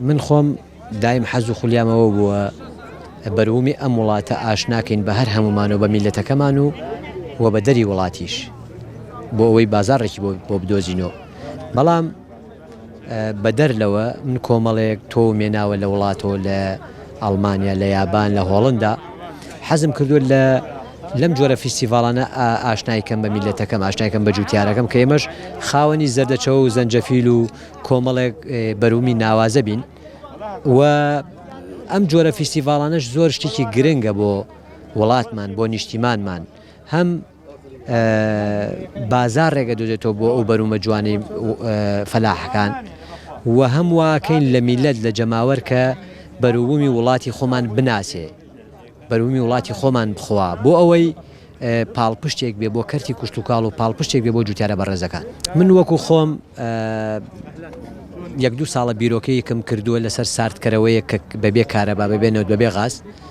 من خۆم دایم حەز و خولیامەوە بووە بەرومی ئەم وڵاتە ئاش ناکەین بە هەر هەمومان و بە میلەتەکەمان و و بە دەری وڵاتیش بۆ ئەوەی بازارڕێکی بۆ بدۆزینەوە بەڵام بەدەر لەوە من کۆمەڵێک تۆ و مێناوە لە وڵاتۆ لە ئەڵمانیا لە یابان لە هۆڵندا حەزم کردووە لە لەم جۆرە فیستیڤاڵانە ئاشنای کەم بە میلەتەکەم ئاشنایکەم بە جوتیارەکەم کە ئێمەش خاوەنی زەردەچەوە و زەنجەفیل و کۆمەڵێک بەرومی ناوازە بین و ئەم جۆرە فیستیڤاڵانەش زۆر شتێکی گرنگە بۆ وڵاتمان بۆ نیشتیمانمان هەم بازار ڕێگە دۆزێتەوە بۆ ئەو بەرومە جوانی فەلاحەکان و هەم واکەین لە میلەت لە جەماوەر کە بەروبوومی وڵاتی خۆمان بناسێ بەرومی وڵاتی خۆمان بخوا بۆ ئەوەی پاڵپشتێک بێ بۆ کەرتی کوشتتوکاڵ و پاڵپشتێک بێ بۆ جوتیارە بەڕێزەکان من وەکو خۆم یەک دوو ساڵە بیرۆکەیەکم کردووە لەسەر ساردکەرەوەیە کە بەبێ کارەبا ببێنەوە بەبێ غاست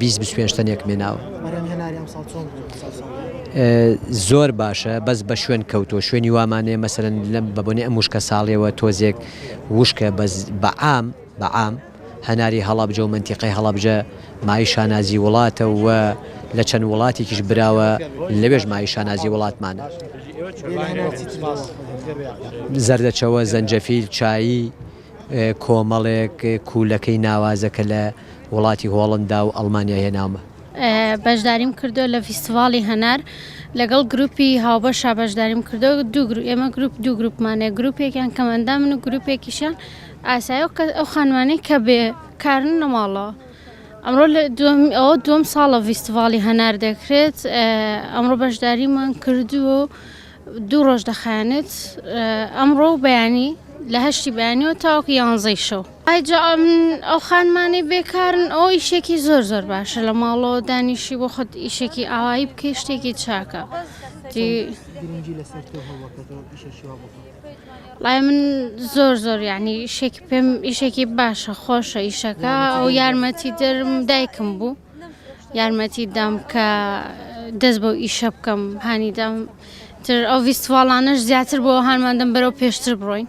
بیست بیست پێنج تەنێک مێناوە. بەرهەم هێناری ئەمساڵ چۆن بوو لەسەر ساڵی ڕابردوو؟ زۆر باشە بەس بە شوێن کەوتووە شوێنی وامان هەیە مەسەلەن لەم بە بۆنەی ئەم وشکە ساڵیەوە تۆزێک وشکە بەس بە عام بە عام هەناری هەڵەبجە و مەنتیقەی هەڵەبجە مایەی شانازی وڵاتە و لە چەند وڵاتێکیش براوە لەوێش مایەی شانازی وڵاتمانە. بێ لە هەنار چیتر دەوە؟ زەردەچەوە، زەنجەفیل، چایی. کۆمەڵێک کوولەکەی ناوازەکە لە وڵاتی هۆڵندا و ئەڵمانیا هێناومە. بەشداریم کردووە لە فیستیڤاڵی هەنار لەگەڵ گروپی هاوبەشا بەشداریم کردووە دوو گروپ ئێمە گروپ دوو گروپمان هەیە گروپێکیان کەمئەندامن و گروپێکیشیان ئاسایە و کەس ئەو خانمانەی کە بێ کارن لە ماڵەوە ئەمڕۆ لە دووەم ئەوە دووەم ساڵە فیستیڤاڵی هەنار دەکرێت ئەمڕۆ بەشداریمان کردووە و دوو ڕۆژ دەخایەنێت ئەمڕۆ و بەیانی لە هەشتی بەیانیەوە تاوەکو یانزەی شەو ئایجا ئەو خانمانەی بێکارن ئەو ئیشێکی زۆر زۆر باشە لە ماڵەوە دانیشی بۆ خۆت ئیشێکی ئاوایی بکەی شتێکی چاکە لای من زۆر زۆر یعنی شێکی پێم ئیشێکی باشە خۆشە ئیشەکە ئەو یارمەتی درم دایکم بوو یارمەتیت دام کە دەست بەو ئیشە بکەم هانی دام تر ئەو ڤیستواڵانەش زیاتر بۆ هانمان دەم بەرەو پێشتر بڕۆین.